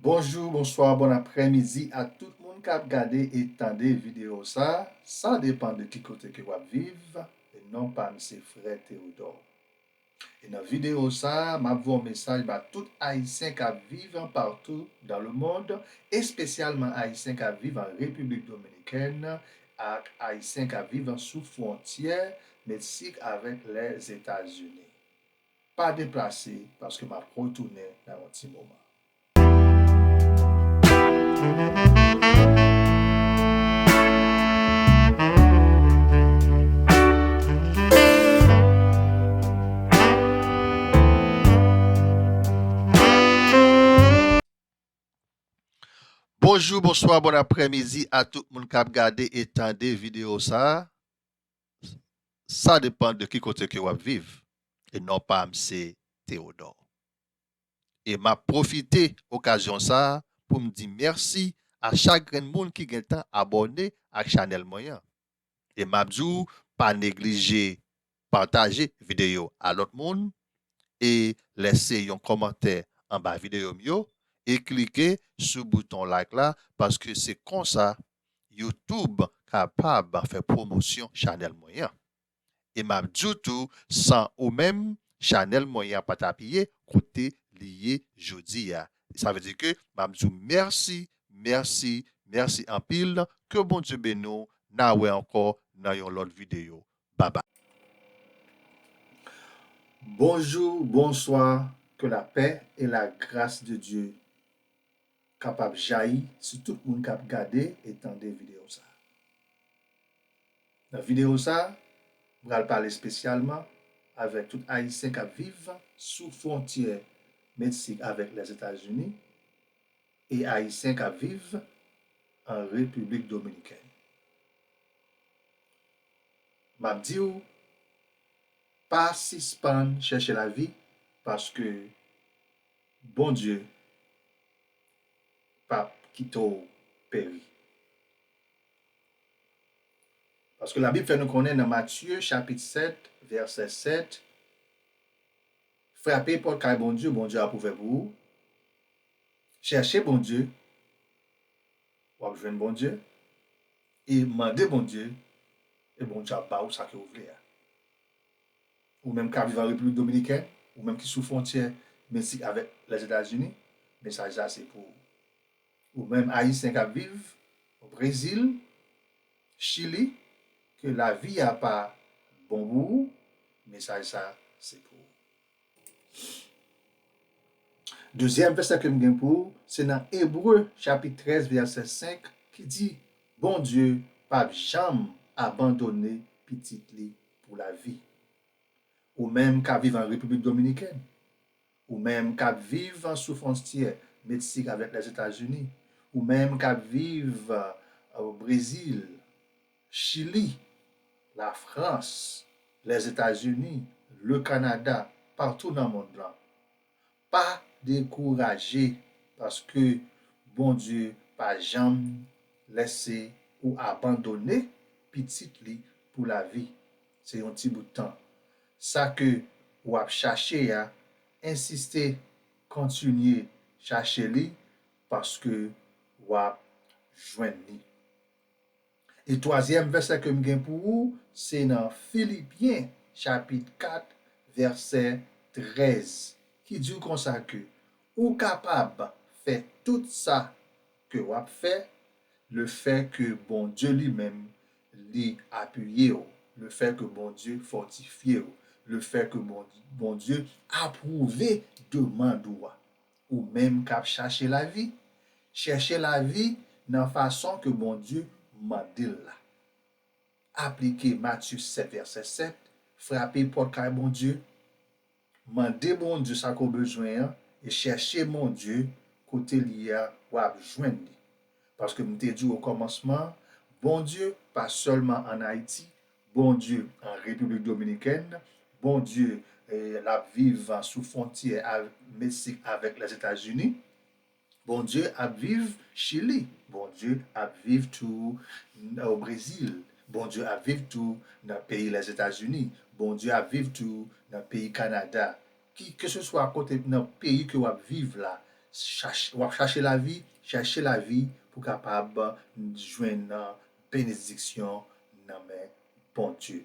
Bonjou, bonswa, bon aprè midi a tout moun kap gade e tande video sa, sa depan de ki kote ke wap viv, e non pam se frè Teodò. E nan video sa map voye yon mesaj ba tout ayisyen kap viv partou dan le mond, espesyalman ayisyen kap viv an Repiblik Dominikèn ak ayisyen kap viv sou fwontyè Meksik avèk Lèzetazini. Pa deplase paske m ap retounen nan yon ti moman. Bonjou, bonswa, bon aprèmidi a tout moun k ap gade e tande videyo sa a. Sa depan de ki kote ke wap viv e non pam se Theodore. E map profite okazyon sa poum di mèsi a chak grenn moun ki gentan abòne ak chanèl mwen an e map di w pa neglije pataje videyo a lòt moun e lèse yon kòmantè anba videyo m yo e klike sou bouton like la paske se konsa YouTube kapab fè pwomosyon chanèl mwen an. E m ap di w tou san ou menm chanèl mwen an pa t ap ye kote li ye jodi a. Sa vle di ke m ap di w mèsi, mèsi, mèsi anpil. Ke Bondye beni w. N a wè ankò nan yon lòt videyo. bye bye. Bonjou bonswa ke lapè e la gras de Dye kapab jayi sou tout moun kap gade e tande video sa nan video sa mpral pale spesyalman avèk tout ayisyen kap viv sou fwontyè medsik avèk lèzetazini e ayisyen kap viv an repiblik dominikèn map diw pa sispann chèche lavi paske Bondye pap kite w peri paske la bib fè nou konnen nan matye chapit 7 vèsè 7 frape pòt kay Bondye Bondye ap ouvè pou ou chèche Bondye wap jwenn Bondye E mande Bondye e Bondye ap ba ou sa ke ou vle a. Ou menm kap viv an Repiblik Dominiken, ou menm ki sou fwontyè Meksik avèk Lèzetazini, mesaj sa se pou ou. Ou menm Ayisyen kap viv o Brezil, Chili, ke lavi a pa bon pou ou, mesaj sa se pou ou. Dezyèm vèsè ke m gen pou ou se nan Ebre chapit 13 vèsè 5 ki di, Bondye pa p janm abandone pitit li pou lavi. Ou menm k ap viv an Repiblik Dominikèn, ou menm k ap viv sou fwonstyè Meksik avèk Lèzetazini, ou menm k ap viv Brezil, Chili, Lafrans, Lèzetazini, Lekanada, patou nan mond lan. Pa dekouraje paske Bondye pa janm lèse ou abandone pitit li pou lavi. Se yon ti bout tan. Sa ke ou ap chache a, ensiste kontinye chache li paske wap jwenn li. E twazyèm vèsè ke m gen pou ou se nan Filipyen chapit 4 vèsè 13 ki di w konsa ke ou kapab fè tout sa ke w ap fè le fè ke Bondye li menm li apiye w, le fè ke Bondye fòtifye w, le fè ke Bondye apwouve demand ou a. Ou menm kap chache lavi, chèche lavi nan fason ke Bondye mande'l la. Aplike Matye 7 vèsè 7, frape pòt kay Bondye, mande Bondye sa ke w bezwen an e chèche Bondye kote li ye a wap jwenn li. Paske m te di w okòmansman an, Bondye pa sèlman an Ayiti, Bondye an Repiblik Dominikèn, Bondye l ap viv sou fwontyè Meksik avèk Lèzetazini, Bondye ap viv Chili, Bondye ap viv tou o Brezil, Bondye ap viv tou nan peyi Lèzetazini, Bondye ap viv tou nan peyi Kanada. Ki keseswa kote nan peyi ke wap viv la, chache wap chache lavi, chache lavi pou kapab jwenn benediksyon nan men Bondye.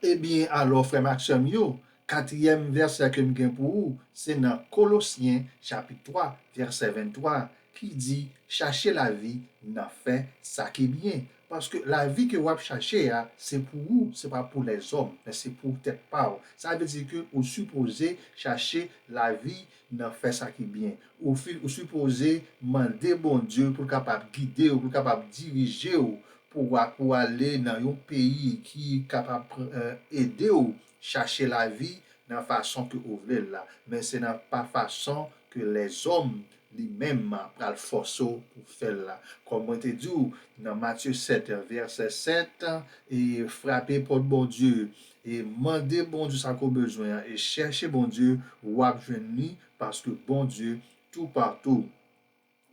Ebyen alò frè m ak sè m yo, katriyèm vèsè ke m gen pou ou se nan Kolosyen chapit 3 vèsè 23 ki di chache lavi nan fè sa ki byen paske lavi ke wap chache a se pou ou se pa pou lèzòm men se pou tèt pa ou sa vle di ke ou sipoze chache lavi nan fè sa ki byen ou fi ou sipoze mande Bondye poul kapab gidew poul kapab dirijew pou wa pou ale nan yon peyi ki kapab pran edew chache lavi nan fason ke ou vlel la men se nan pa fason ke lèzòm Li menm pral fòse w pou w fè l la. Kòm mwen te di w nan Matye 7, vèsè 7, e, Frape pòt Bondye, e, mande Bondye sa ke w bezwen an, e, chèche Bondye, w ap jwenn li, paske Bondye toupatou.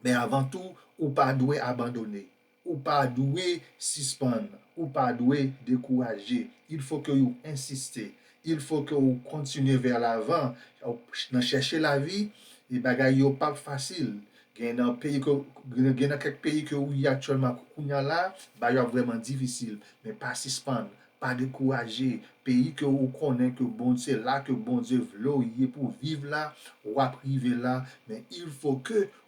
Men avan tou, ou pa dwe abandone. Ou pa dwe sispann. Ou pa dwe dekouraje. Il faut que ou insiste. Il faut que ou continuer vers l'avant. Nan chèche lavi, e bagay yo pap fasil. Gen nan peyi ke, gen nan kèk peyi ke ou ye aktyèlman kounya la, bagay yo ap vrèman difisil. Men pa sispann. Pa dekouraje. Peyi ke ou konnen ke Bond, se la ke Bondye vle ou ye pou viv la, wap rive la. Men il faut que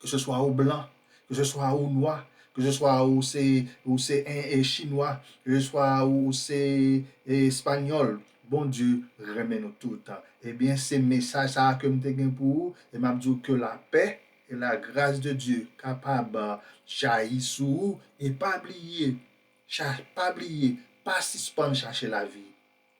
Ke se swa ou blan, ke se swa ou nwa, ke se swa ou se ou se chinwa, ke se swa ou se espanyòl, Bondye renmen nou tout. Ebyen se mesaj sa a ke m te gen pou ou e m ap di ou ke lapè e lagras de Dye kapab jayi sou ou e pa bliye, pa bliye, pa sispann chache lavi.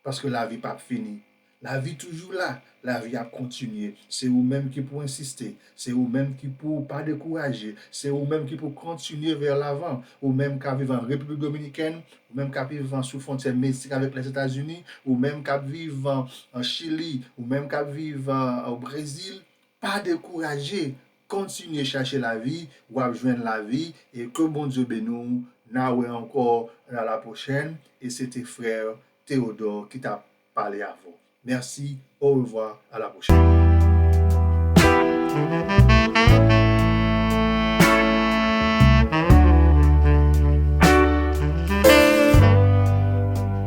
Paske lavi p ap fini. Lavi toujou la, lavi ap kontinye. Se ou menm ki pou ensiste. Se ou menm ki pou ou pa dekouraje. Se ou menm ki pou kontinye vè lavan. Ou menm k ap viv an Repiblik Dominikèn, ou menm k ap viv an sou fwontyè Meksik avèk Lèzetazini, ou menm k ap viv an Chili, ou menm k ap viv an Brezil, pa dekouraje! Kontinye chache lavi wap jwenn lavi e ke Bondye beni w na wè ankò a la prochèn e se te frère Theodore ki tap pale avè w merci au revoir a la prochèn.